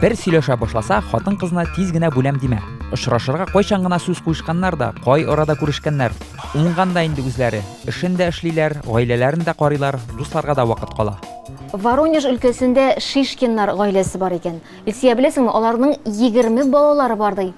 Бер сөйләшә башласа, хатын-кызына тиз генә бүләм димә. Очрашырга кайчан гына сүз куешканнар да, кай арада күрешкәннәр. Уңган да инде үзләре. Эшен дә эшлиләр, гаиләләрен дә карыйлар, дусларга да вакыт кала. Воронеж өлкәсендә Шишкиннар гаиләсе бар икән. Илсия, беләсеңме, аларның егерме балалары бар ди.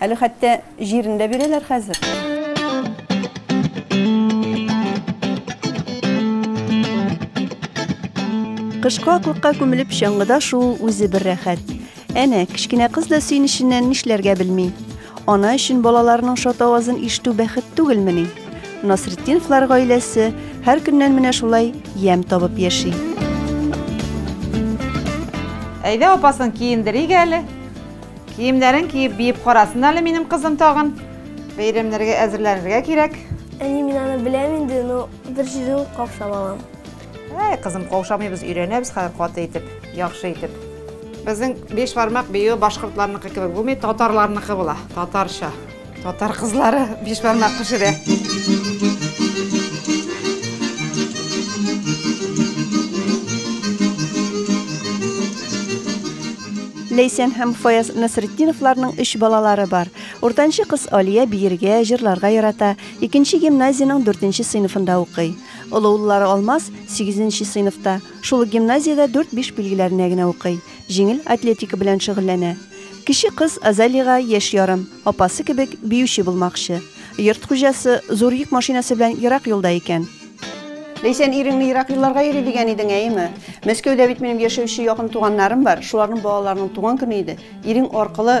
Әле хәтта җирен дә бирәләр хәзер. Кышкы аклыкка күмелеп чаңгыда шул үзе бер рәхәт. Әнә, кечкенә кыз да сөенеченнән нишләргә белми. Ана өчен балаларының шат авазын ишетү бәхет түгелмени? Насретдиновлар гаиләсе һәр көннән менә шулай ямь табып яши. Әйдә апасын киендерик әле. Киемнәрен киеп биеп карасын әле минем кызым тагын. Бәйрәмнәргә әзерләнергә кирәк. Әни, мин аны беләм инде, но бер җирен каушап алам. Әй, кызым, каушамыйбыз, өйрәнәбез хәзер каты итеп, яхшы итеп. Безнең биш бармак биюе башкортларныкы кебек булмый, татарларныкы була, татарча. Татар кызлары биш бармак пешерә. Ләйсән һәм Фаяз Насретдиновларның өч балалары бар. Уртанчы кыз Алия биергә, җырларга ярата, икенче гимназиянең дүртенче сыйныфында укый. Олы уллары Алмаз, сигезенче сыйныфта, шул ук гимназиядә дүрт-биш билгеләренә генә укый. җиңел атлетика белән шөгыльләнә. Кече кыз Азалига яшь ярым, апасы кебек биюче булмакчы. Йорт хуҗасы зур йөк машинасы белән ерак юлда икән. Ләйсән, иреңне ерак юлларга йөри дигән идең, әйеме? Мәскәүдә бит минем яшәүче якын туганнарым бар, шуларның балаларының туган көне иде. Ирең аркылы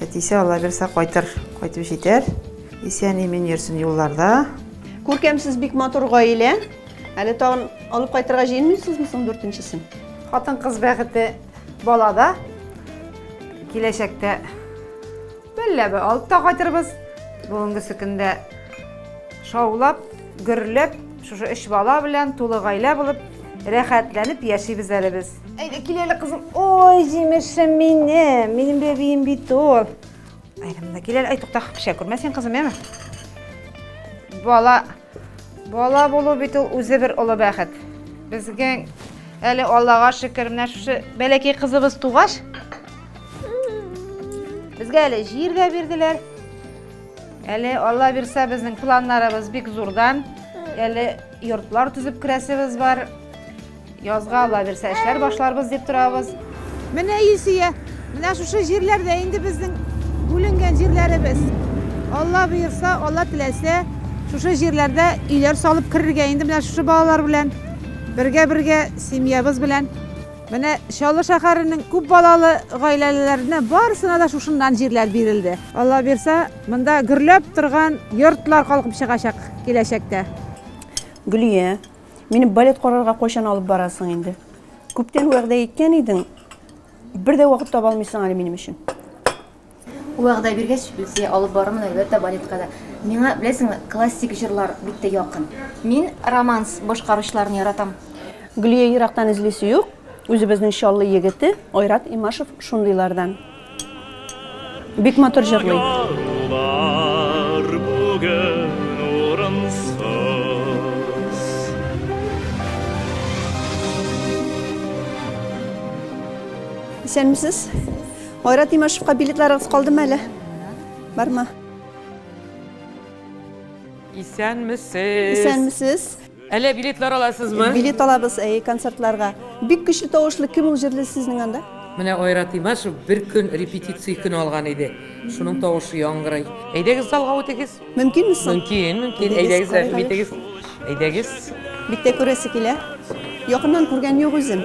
Әтисе Алла бирсә кайтыр, кайтып җитәр. Исән имин йөрсен юлларда. Күркәмсез бик матур гаилә. Әле тагын алып кайтырга җыенмыйсызмы соң дүртенчесен? Хатын-кыз бәхете балада. Киләчәктә бәлләбе алып та кайтырбыз. Бүгенгесе көндә шаулап, гөрләп, шушы өч бала белән тулы гаилә булып, рәхәтләнеп яшибез әле без. Әйдә, кил әле, кызым. Ой, җимешем минем. Минем бәбием бит ул. Әйдә, монда кил әле. Әй, тукта, пешә күрмә син, кызым, яме. Бала, бала булу бит ул үзе бер олы бәхет. Безгә әле Аллага шөкер, менә шушы бәләкәй кызыбыз тугач, безгә әле җир дә бирделәр. Әле Алла бирсә, безнең планнарыбыз бик зурдан. Әле йортлар төзеп керәсебез бар. Язга Алла бирсә эшләр башларбыз дип торабыз. Менә Илсөя, менә шушы җирләрдә инде безнең бүленгән җирләребез. Алла боерса, Алла теләсә, шушы җирләрдә өйләр салып керергә инде менә шушы балалар белән. Бергә-бергә семьябыз белән. Менә Чаллы шәһәренең күп балалы гаиләләренә барысына да шушыннан җирләр бирелде. Алла бирса, монда гөрләп торган йортлар калкып чыгачак киләчәктә. Гөлия, Мине балет карарга кайчан алып барасың инде? Күптән вәгъдә иткән идең. Бер дә вакыт таба алмыйсың әле минем өчен. Вәгъдә биргәч, Люция, алып барырмын әлбәттә балетка да. Миңа, беләсеңме, классик җырлар бик тә якын. Мин романс башкаручыларны яратам. Гөлия ерактан эзлисе юк, үзебезнең Чаллы егете Айрат Имашев шундыйлардан. Бик матур җырлый. Исәнмесез. Айрат Имашевка билетларыгыз калдымы әле? Бармы? Исәнмесез. Исәнмесез. Әллә билетлар аласызмы? Билет алабыз, әйе, концертларга. Бик көчле тавышлы кем ул җырлый сезнең анда? Менә Айратыйма шул бер көн репетиция көне алган иде. Шуның тавышы яңгырый. Әйдәгез залга үтегез. Мөмкинме соң? Мөмкин, мөмкин. Әйдәгез, рәхим итегез. Әйдәгез. Бик тә күрәсе килә. Якыннан күргән юк үзем.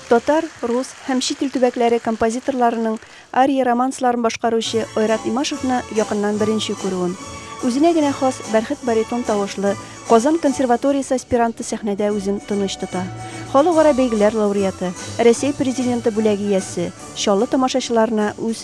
Татар, рус һәм чит ил төбәкләре композиторларының ария-романсларын башкаручы Айрат Имашевны якыннан беренче күрүем. Үзенә генә хас бәрхет баритон тавышлы Казан консерваториясе аспиранты сәхнәдә үзен тыныч тота. Халыкара бәйгеләр лауреаты, Рәсәй Президенты бүләге иясе Чаллы тамашачыларына үз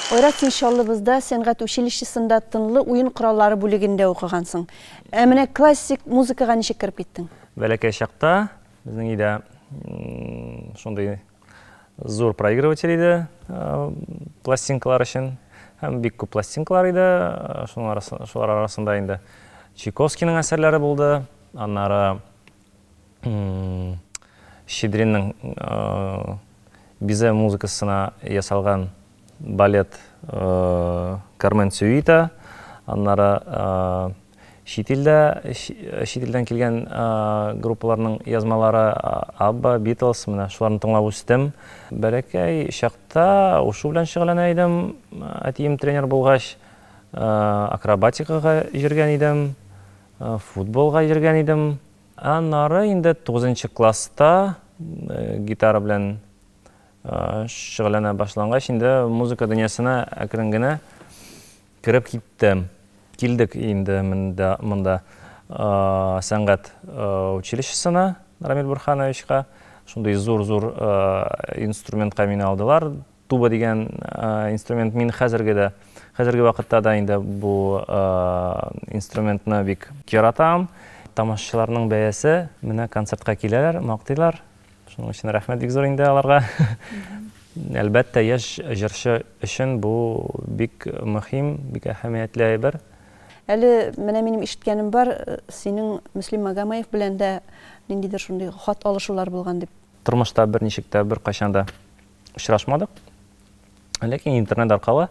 Айрат, син Чаллыбызда сәнгать училищесында тынлы уен кораллары бүлегендә укыгансың. Ә менә классик музыкага ничек кереп киттең? Бәләкәй чакта безнең өйдә шундый зур проигрыватель иде пластинкалар өчен. Һәм бик күп пластинкалар иде. Шулар арасында инде Чайковскийның әсәрләре булды. Аннары Щедринның Бизэ музыкасына ясалган балет Кармен сюита, аннары чит илдә, чит илдән килгән группаларның язмалары, Абба, Битлз, менә шуларны тыңлап үстем. Бәләкәй чакта ушу белән шөгыльләнә идем, әтием тренер булгач, акробатикага йөргән идем. Футболга йөргән идем. Аннары инде тугызынчы класста гитара белән шөгыльләнә башлангач, инде музыка дөньясына әкрен генә кереп киттем. Килдек инде монда сәнгать училищесына, Рамил Бурхановичка. Шундый зур-зур инструментка мине алдылар, Туба дигән инструмент мин хәзерге дә, хәзерге вакытта да инде бу инструментны бик яратам. Тамашачыларның бәясе, менә концертка киләләр, мактыйлар. Шуның өчен рәхмәт бик зур инде аларга. Әлбәттә, яшь җырчы өчен бу бик мөһим, бик әһәмиятле әйбер. Әле менә минем ишеткәнем бар, синең Мөслим Магомаев белән дә ниндидер шундый хат алышулар булган дип. Тормышта берничек тә, беркайчан да Очрашмадык. Ләкин интернет аркылы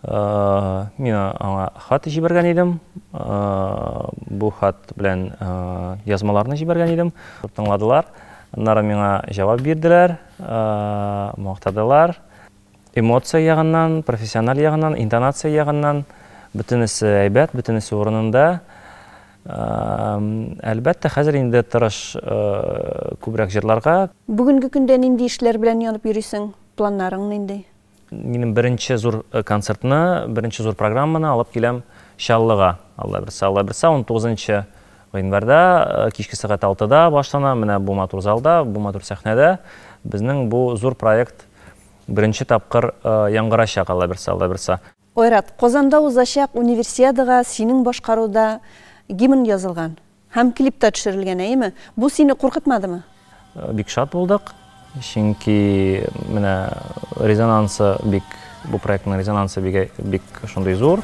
э, мин аңа хат җибәргән идем. Э, бу хат белән э, язмаларны җибәргән идем. Тыңладылар. Аннары миңа җавап бирделәр, мактадылар. Эмоция ягыннан, профессиональ ягыннан, интонация ягыннан бөтенесе әйбәт, бөтенесе урынында. Әлбәттә, хәзер инде тырыш күбрәк җырларга. Бүгенге көндә нинди эшләр белән янып йөрисең? Планнарың нинди? Минем беренче зур концертны, беренче зур программаны алып киләм Чаллыга. Алла бирса, Алла бирса, унтугызынчы гыйнварьда кичке сәгать алтыда башлана, менә бу матур залда, бу матур сәхнәдә безнең бу зур проект беренче тапкыр яңгырачак, Алла бирса, Алла бирса. Айрат, Казанда узачак Универсиадага синең башкаруда гимн язылган һәм клип та төшерелгән, әйеме? Бу сине куркытмадымы? Бик шат булдык, чөнки менә резонансы бик, бу проектның резонансы бик шундый зур.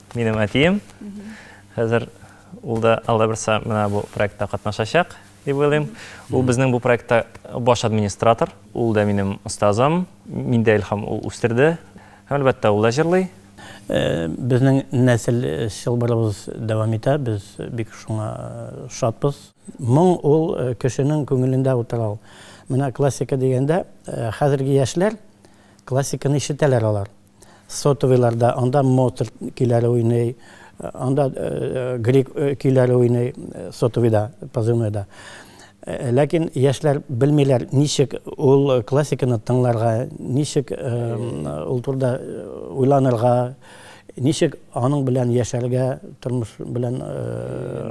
Минем әтием. Хәзер ул да алда берса менә бу проектта катнашачак, дип уйлыйм. Ул безнең бу проектта баш администратор. Ул да минем остазым. Мин дә Илһам ул үстерде. Һәм әлбәттә ул да җырлый. Безнең нәсел чылбырыбыз дәвам итә, без бик шуңа шатбыз. Моң ул кешенең күңелендә утыра ул. Менә классика дигәндә, хәзерге яшьләр классиканы ишетәләр алар. Сотовыйларда, анда Моцарт көйләре уйный, анда грек көйләре уйный, сотовыйда, позывнойда. Ләкин яшьләр белмиләр, ничек ул классиканы тыңларга, ничек ул турда уйланырга, ничек аның белән яшәргә, тормыш белән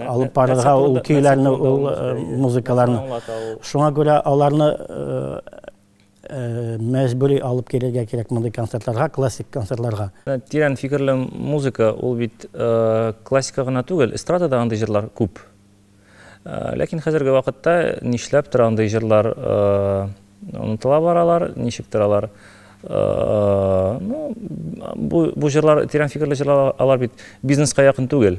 алып барырга ул көйләрне, ул музыкаларны. Шуңа күрә аларны мәҗбүри алып килергә кирәк мондый концертларга, классик концертларга. Тирән фикерле музыка, ул бит классика гына түгел, эстрадада андый җырлар күп. Ләкин хәзерге вакытта нишләптер андый җырлар онытыла баралар, ничектер алар бу җырлар, тирән фикерле җырлар, алар бит бизнеска якын түгел.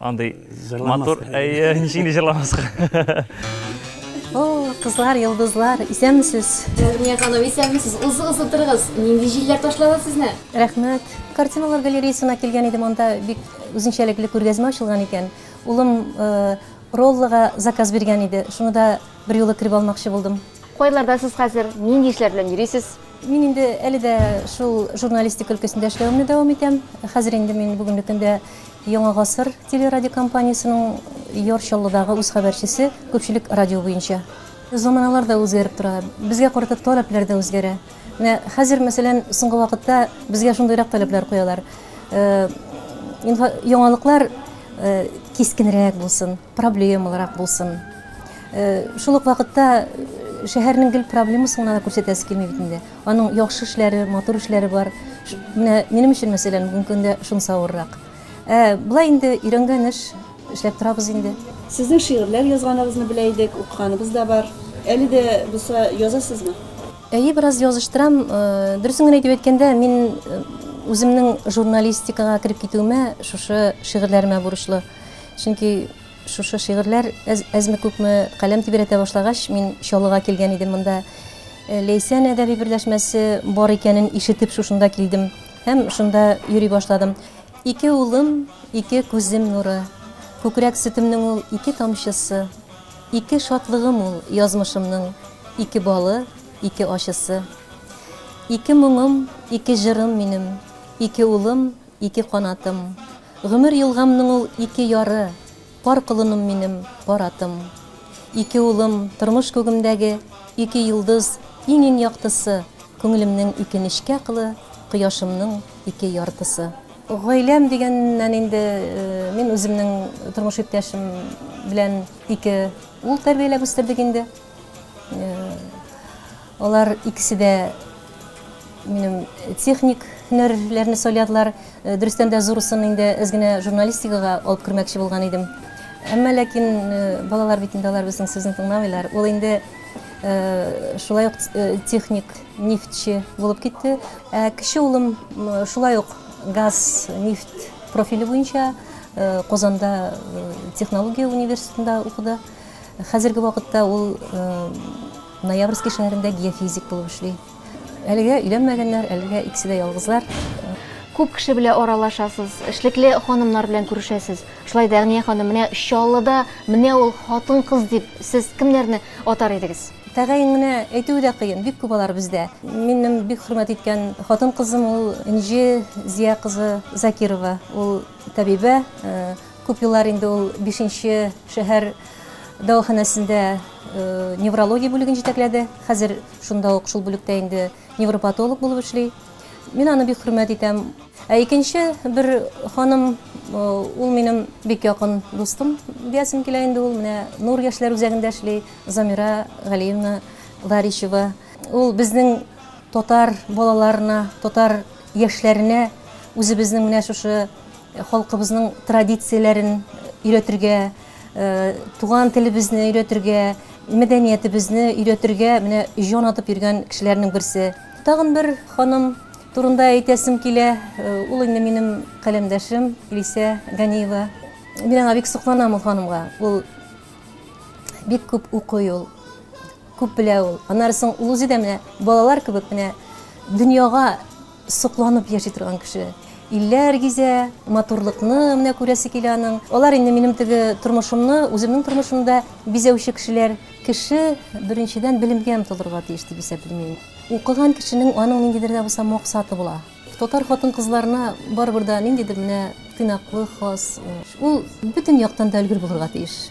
Андый матур, әйе, ничек инде җырламаска. О, кызлар, йолдызлар, исәнмесез? Дәрния ханым, исәнмесез. Узы-узы торыгыз. Нинди җилләр ташлады сезне? Рәхмәт. Картиналар галереясына килгән идем, анда бик үзенчәлекле күргәзмә ачылган икән. Улым э, роллыга заказ биргән иде. Шуны да бер юлы кереп алмакчы булдым. Кайларда сез хәзер? Нинди эшләр белән йөрисез? Мин инде әле дә шул журналистик өлкәсендә эшләвемне дәвам итәм. Хәзер инде мин бүгенге көндә Яңа гасыр телерадиокомпаниясенең Яр Чаллыдагы үз хәбәрчесе, күпчелек радио буенча. Заманалар да үзгәреп тора, безгә карата таләпләр дә үзгәрә. Менә хәзер, мәсәлән, соңгы вакытта безгә шундыйрак таләпләр куялар, яңалыклар кискенрәк булсын. проблемалырак булсын. Шул ук вакытта шәһәрнең гел проблемасын гына да күрсәтәсе килми бит инде. Аның яхшы эшләре, матур эшләре бар. Менә минем өчен, мәсәлән, бүгенге көндә шунысы авыррак. Ә болай инде өйрәнгән эш, эшләп торабыз инде. Сезнең шигырьләр язганыгызны белә идек, укыганыгыз да бар. Әле дә булса язасызмы? Әйе, бераз языштырам. Дөресен генә итеп әйткәндә, мин үземнең журналистикага кереп китүемә шушы шигырьләремә бурычлы. Чөнки шушы шигырьләр әзме-күпме каләм тибрәтә башлагач, мин Чаллыга килгән идем монда. Э, Ләйсән әдәби берләшмәсе бар икәнен ишетеп шушында килдем һәм шунда йөри башладым. Ике улым, ике күзем нуры, күкрәк сөтемнең ул ике тамчысы, ике шатлыгым ул язмышымның, ике балы, ике ачысы. Ике моңым, ике җырым минем, ике улым, Ике канатым, Гомер елгамның ул ике яры, Пар колыным минем, пар атым. Ике улым, Тормыш күгемдәге ике йолдыз, Иң-иң яктысы, Күңелемнең ике нечкә кылы, Кояшымның ике яртысы. Гаиләм дигәннән инде мин үземнең тормыш иптәшем белән ике ул тәрбияләп үстердек инде. Алар икесе дә минем техник һөнәрләрне сайладылар. Дөрестән дә зурысын инде әз генә журналистикага алып кермәкче булган идем. Әмма ләкин балалар бит инде алар безнең сүзне тыңламыйлар. Ул инде шулай ук техник нефтьче булып китте. Ә кече улым шулай ук газ, нефть профиле буенча Казанда технология университетында укыды. Хәзерге вакытта ул Ноябрьский шәһәрендә геофизик булып эшли. Әлегә өйләнмәгәннәр, әлегә икесе дә ялгызлар. Күп кеше белән аралашасыз, эшлекле ханымнар белән күрешәсез. Шулай да, Әгъния ханым, менә Чаллыда менә ул хатын-кыз дип, сез кемнәрне атар идегез? Тәгаен генә әйтүе дә кыен, бик күп алар бездә. Минем бик хөрмәт иткән хатын-кызым ул Энҗе Зия кызы Закирова. Ул табибә, Күп еллар инде ул бишенче шәһәр дәваханәсендә неврология бүлеген җитәкләде. Хәзер шунда ук шул бүлектә инде невропатолог булып эшли. Мин аны бик хөрмәт итәм. Ә икенче бер ханым, ул минем бик якын дустым диясем килә инде ул. Менә Нур яшьләр үзәгендә эшли, Замира Галиевна Варищева. Ул безнең татар балаларына, татар яшьләренә үзебезнең менә шушы Халкыбызның традицияләрен өйрәтергә, туган телебезне өйрәтергә, мәдәниятебезне өйрәтергә менә җан атып йөргән кешеләрнең берсе. Тагын бер ханым турында әйтәсем килә, ул инде минем каләмдәшем Илисә Ганиева. Мин аңа бик сокланам ул ханымга. Ул бик күп укый ул, күп белә ул. Аннары соң ул үзе дә менә балалар кебек менә дөньяга Сокланып яши торган кеше. Илләр гизә, матурлыкны менә күрәсе килә аның. Алар инде минем теге тормышымны, үземнең тормышымда бизәүче кешеләр. Кеше беренчедән белемгә омтылырга тиеш дип исәплим мин. Укыган кешенең аның ниндидер дә булса максаты була. Татар хатын-кызларына барыбер дә ниндидер менә тыйнаклык хас. Ул бөтен яктан да өлгер булырга тиеш.